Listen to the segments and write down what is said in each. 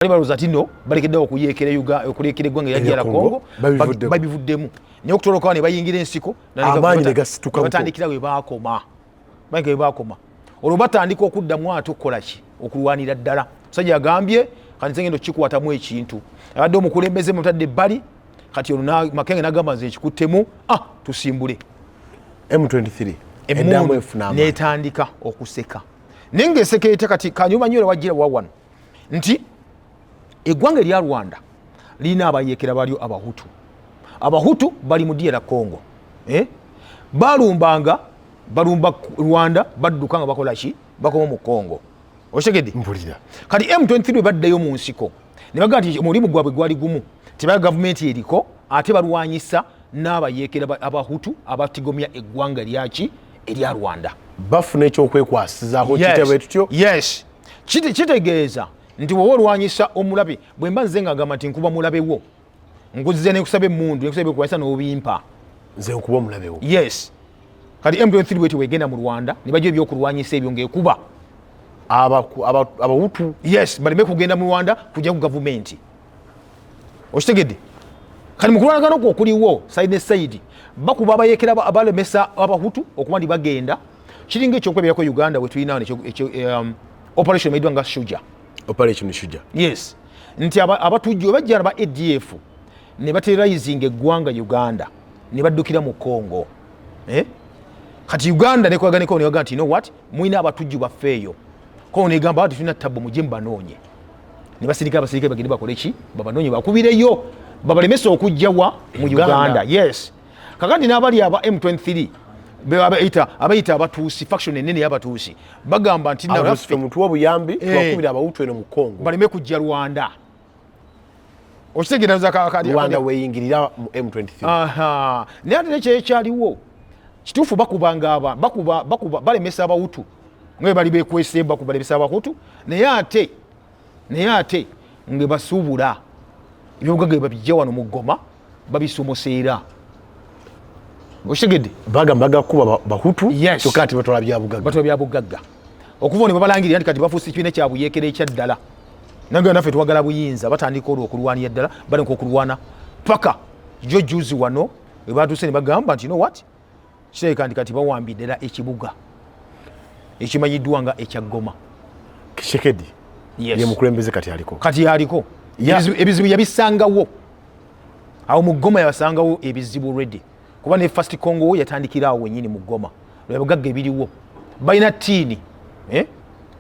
bali balowooza ti no balekeddewo okuyeekera okuleekera eggwanga erya DR Congo babivuddemu naye okutolokawo ne bayingira ensiko amaanyi ne gasituka batandikira we baakoma bayingira we baakoma olwo batandika okuddamu ate okukola ki okulwanira ddala musajja agambye kati nze ngenda okukikwatamu ekintu abadde omukulembeze mutadde ebbali kati olwo makenge nagamba nze nkikuttemu ah tusimbule m23 netandika okuseka naye ngaeseka etya kati kanyuma nyo era wajira wawano nti eggwanga erya rwanda lirina abayekera balyo abahutu abahutu bali mu diyera congo eh? balumbanga balumba rwanda badduka nga bakola ki bakoma mu congo osegede mpulira kati m23 bwe baddayo mu nsiko ne bagaa nti omulimu gwabwe gwali gumu tebaa gavumenti eriko ate balwanyisa n'abayeekera abahutu abatigomya eggwanga lyaki erya rwanda bafuna ekyokwekwasizaako kitebwe tutyo yes kiti kitegeeza nti wowe olwanyisa omulabe bwemba nze nga ngamba nti nkuba mulabe wo nkuzize nekusaba emundu nekusaba ebyokulwanyisa nobimpa nze nkuba omulabe wo yes kati m23 bwetyo wegenda mu rwanda nebajo ebyokulwanyisa ebyo ngaekuba abawutu yes baleme kugenda mu rwanda kujja ku gavumenti okitegedde kati mukulwanagana okwo okuliwo saidi ne saidi bakuba abayekera abalemesa abahutu okuba nti bagenda kiringa ekyokulabirako uganda wetulina um, operation maidwa nga shuja operation shuja yes nti abatujju bajjana ba adf ne baterrorizinga eggwanga uganda ne baddukira mu congo eh? kati uganda nekwaganeko newaga nti know what mulina abatujju baffe eyo ko negamba ati tulina tabbu muje mubanoonye ne basirika abasirika bagende bakoleki babanoonye bakubireyo babalemesa okujjawa mu uganda yes kakati n'abali aba m23 abayita abayita abatuusi faction enene y'abatuusi bagamba nti naffe mutuwa obuyambi eh. twakubira abawutu eno mu congo baleme kujja rwanda okitegeeraza rwanda weyingirira mu m23 naye ate nekyo ekyaliwo kituufu bakubanga aba bakuba bakuba balemesa abawutu nga bali bekwesemba kubalemesa abahutu naye ate naye ate nga basuubula ebyobugaga babijja wano mu goma babisomoseera okitegedde bagamba bagakuba bahutu kyokka nti batwala byabugagga batwala byabugagga okuva ne babalangirira nti kati bafuusa ekibiina kyabuyekera ekyaddala naga naffe twagala buyinza batandika olwo okulwanira ddala balinka okulwana paka jo juzi wano webatuuse ne bagamba nti no wat kirabika nti kati bawambye ddala ekibuga ekimanyiddwa nga ekya goma kishekedi ye mukulembeze kati aliko kati aliko ebizibu yabisangawo awo mu goma yabasangawo ebizibu redi kuba ne fast congo wo yatandikira awo wenyini mu goma lwebugagga ebiriwo balina tiini eh?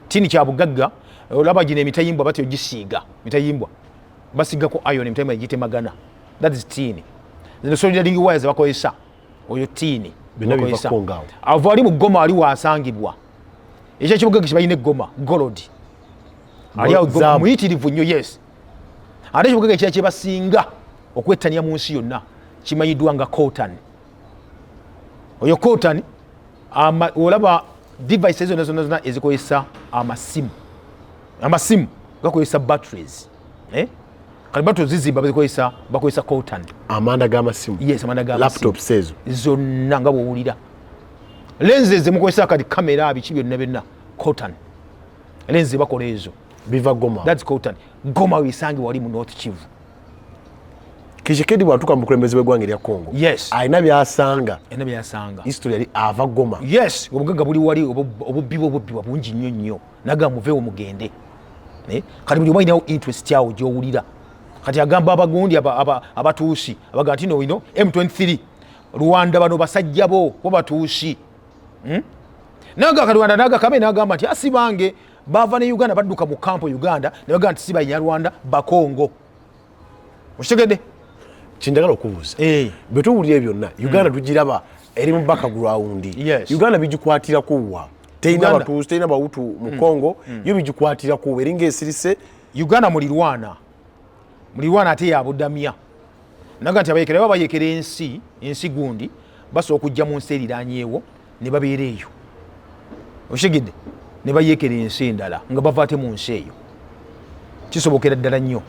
tiini kyabugagga olaba gino emitayimbwa batyo gisiiga mitayimbwa basigako ion emitayimbwa egitemagana that is tiini zino solidaringi waya zebakozesa oyo tiini avo ali mu goma ali wasangibwa ekyo ekibuga kibalina egoma golod ali awo muyitirivu nnyo yes ate ekibugaga ekira kyebasinga okwettania mu nsi yonna kimanyiddwa nga cotan oyo cotan olaba device zona zona zona ezikozesa amasimu amasimu gakozesa batteries eh? kati batu zizimba bazikozesa bakozesa coltan amanda gamasimu yes amanda ga laptop sezo zonna nga bwowulira lenze zemukozesa kati kamera biki byonna byonna coltan lenze bakola ezo biva goma thats coltan goma wesange wali mu north kivu kishikedi bwatuka mukulembeze wegwanga erya congo yes alina byasanga alina byasanga history yali ava goma yes obugaga buli wali obubbi bwo bubbi bungi nnyo nnyo naga muvewo mugende eh? kati buli omainawo interest yawo gyowulira kati agamba abagundi abatuusi abaga nti no ino m23 rwanda bano basajja bo bo batuusi hmm? naga kalwanda naga kame nagamba nti asibange bava ne uganda badduka mu kampo uganda nebaga nti siba nyarwanda bakongo okitegedde kyendagala okubuuza eh. bwe tuwulira byonna hmm. uganda tugiraba eri mu baka gulawundi uganda bigikwatirako wa terina batuuzi terina bawutu mu hmm. congo hmm. yo bigikwatirako wa eringa esirise uganda mulirwana mulirwana ate yabudamya naga nti abayekera baba bayekera ensi ensi gundi basobola okujja mu nsi eriranyewo ne babeera eyo okitegedde ne bayekera ensi endala nga bava ate mu nsi eyo kisobokera ddala nnyo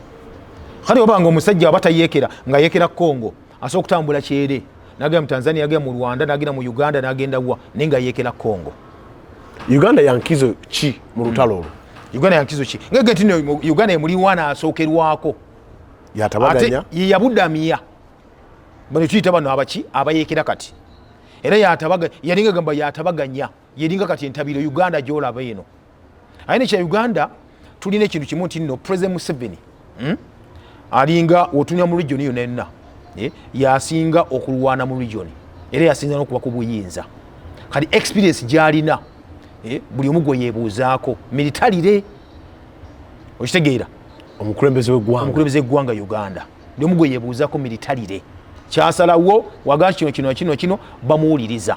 kale oba nga omusajja aba tayekera nga yekera congo asobola okutambula kyere nagenda mu tanzania agenda mu rwanda nagenda mu uganda nagenda wa naye nga yekera congo uganda yankizo ki mu lutalo olwo hmm. uganda yankizo ki ngege nti uganda emuliwa nasookerwako yatabaganya yeyabudamya banetuyita bano abaki abayekera kati era yatabaga yalinga gamba yatabaganya yeringa kati entabiro uganda gyolaba eno aye nekya uganda tulina ekintu kimu nti no president museveni hmm? alinga otunya mu region yona yonna eh? yasinga okulwana mu region era yasinza nokuba ku buyinza kati experience gyalina eh? buli omu gwe yebuuzaako militarire okitegeera omukulembeze wegwanga uganda ndi omu gwe yebuuzako militarire kyasalawo waga kino kino kino kino bamuwuliriza